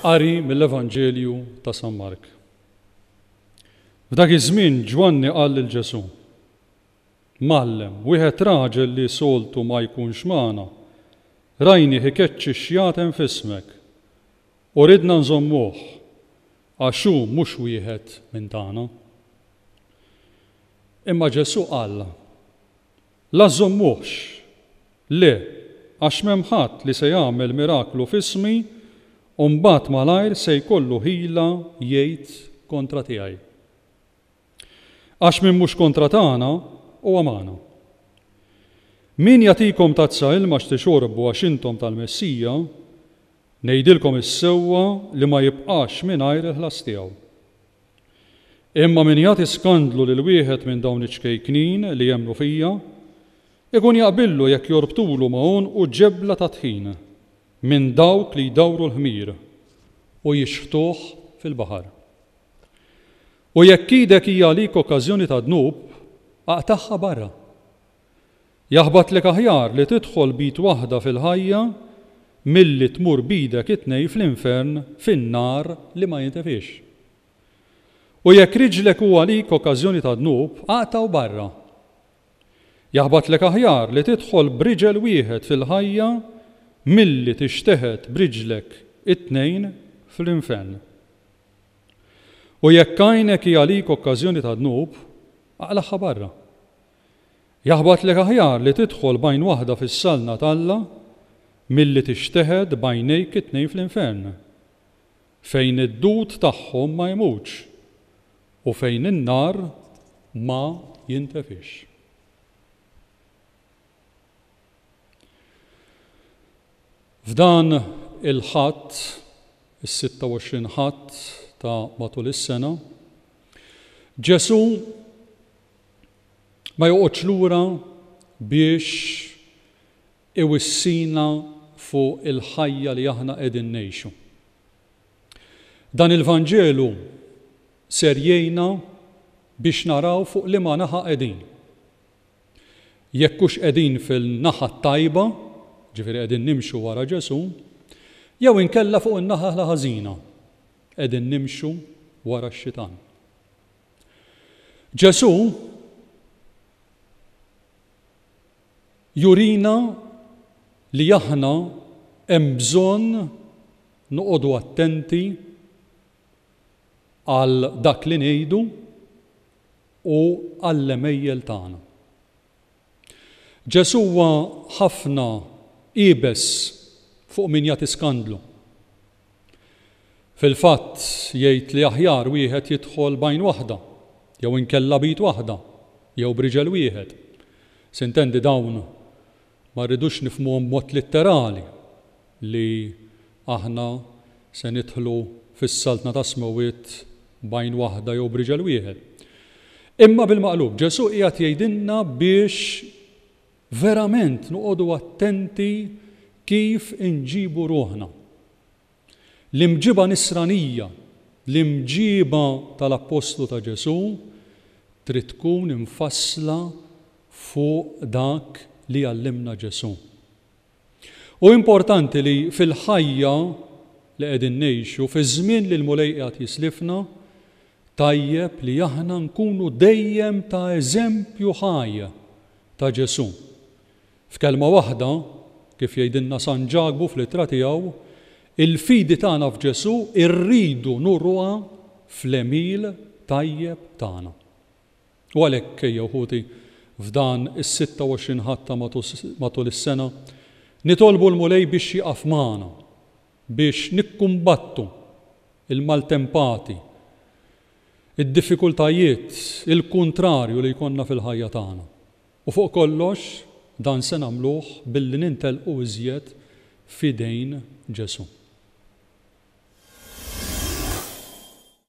Qari mill-Evanġelju ta' San Mark. F'dak iż-żmien Ġwanni qal lil Ġesù, Mgħallem, wieħed raġel li soltu ma jkunx magħna, rajnih ikeċċi xjaten f'ismek, u ridna nżommuh, għax hu mhux wieħed minn tagħna. Imma Ġesù qal, La żżommuhx, le, għax m'hemm ħadd li se jagħmel miraklu f'ismi u mbagħad malajr se jkollu ħila jgħid kontra tiegħi. Għax min mhux kontra tagħna, huwa magħna. Min jagħtikom tazza ilma x'tixorbu għax intom tal-Messija, ngħidilkom is-sewwa li ma jibqax mingħajr il-ħlas tiegħu. Imma min jagħti skandlu lil wieħed minn dawn iċ-ċkejknin li jemmnu fija, ikun jaqbillu jekk jorbtulu ma' għonqu ġebla ta' tħin minn dawk li jdawru l-ħmir u jixħtuh fil-baħar. U jekk idek hija għalik okkażjoni ta' dnub, aqtagħha barra, Jaħbatlek aħjar li tidħol b'id waħda fil-ħajja milli tmur b'idek it-tnejn fl-infern fin-nar li ma jintefiex. U jekk riġlek hu għalik okkażjoni ta' dnub, aqta' u barra. Jaħbatlek aħjar li tidħol b'riġel wieħed fil-ħajja milli tixteħet b'riġlek it-tnejn fl-infern. U jekk għajnek hi għalik okkażjoni ta' dnub, aqlagħha barra. Jaħbatlek aħjar li tidħol b'għajn waħda fis-saltna t'Alla milli tixteħet b'għajnejk it-tnejn fl-infern, fejn id-dud tagħhom ma jmutx u fejn in-nar ma jintefix. F'dan il-Ħadd, is-26 Ħadd ta' matul is-sena, Ġesù ma joqgħodx lura biex iwissina fuq il-ħajja li aħna qegħdin ngħixu. Dan il-Vanġelu ser jgħinna biex naraw fuq liema naħa qegħdin. Jekk hux qegħdin fil-naħa t-tajba, ġifieri qegħdin nimxu wara Ġesù, jew inkella fuq in-naħa l-ħażina, qegħdin nimxu wara x-xitan. Ġesù jurina li aħna hemm bżonn noqogħdu attenti għal dak li ngħidu u għall-għemejjel tagħna. Ġesù huwa ħafna iebes fuq min jagħti skandlu. Fil-fatt, jgħid li aħjar wieħed jidħol b'għajn waħda, jew inkella b'id waħda, jew b'riġel wieħed. Sintendi dawn ma rridux nifhmuhom b'mod litterali, li aħna se nidħlu fis-Saltna tas-Smewwiet b'għajn waħda jew b'riġel wieħed. Imma bil-maqlub, Ġesù qiegħed jgħidilna biex verament noqogħdu attenti kif inġibu ruħna. L-imġiba Nisranija, l-imġiba tal-appostlu ta' Ġesù, trid tkun imfassla fuq dak li għallimna Ġesù. Hu importanti li fil-ħajja li qegħdin ngħixu, fiż-żmien li l-Mulej qiegħed jislifna, tajjeb li aħna nkunu dejjem ta' eżempju ħaj ta' Ġesù. F'kelma waħda, kif jgħidilna San Ġakbu fl-ittra tiegħu, il-fidi tagħna f'Ġesù rridu nuruha fl-għemil tajjeb tagħna. U għalhekk, ejja uħuti, f'dan is-26 Ħadd ta' matul is-sena, nitolbu l-Mulej biex jieqaf magħna, biex nikkumbattu l-maltempati, id-diffikultajiet, il-kuntrarju li jkollna fil-ħajja tagħna. U fuq kollox, dan se nagħmluh billi nintelqu iżjed f'idejn Ġesù.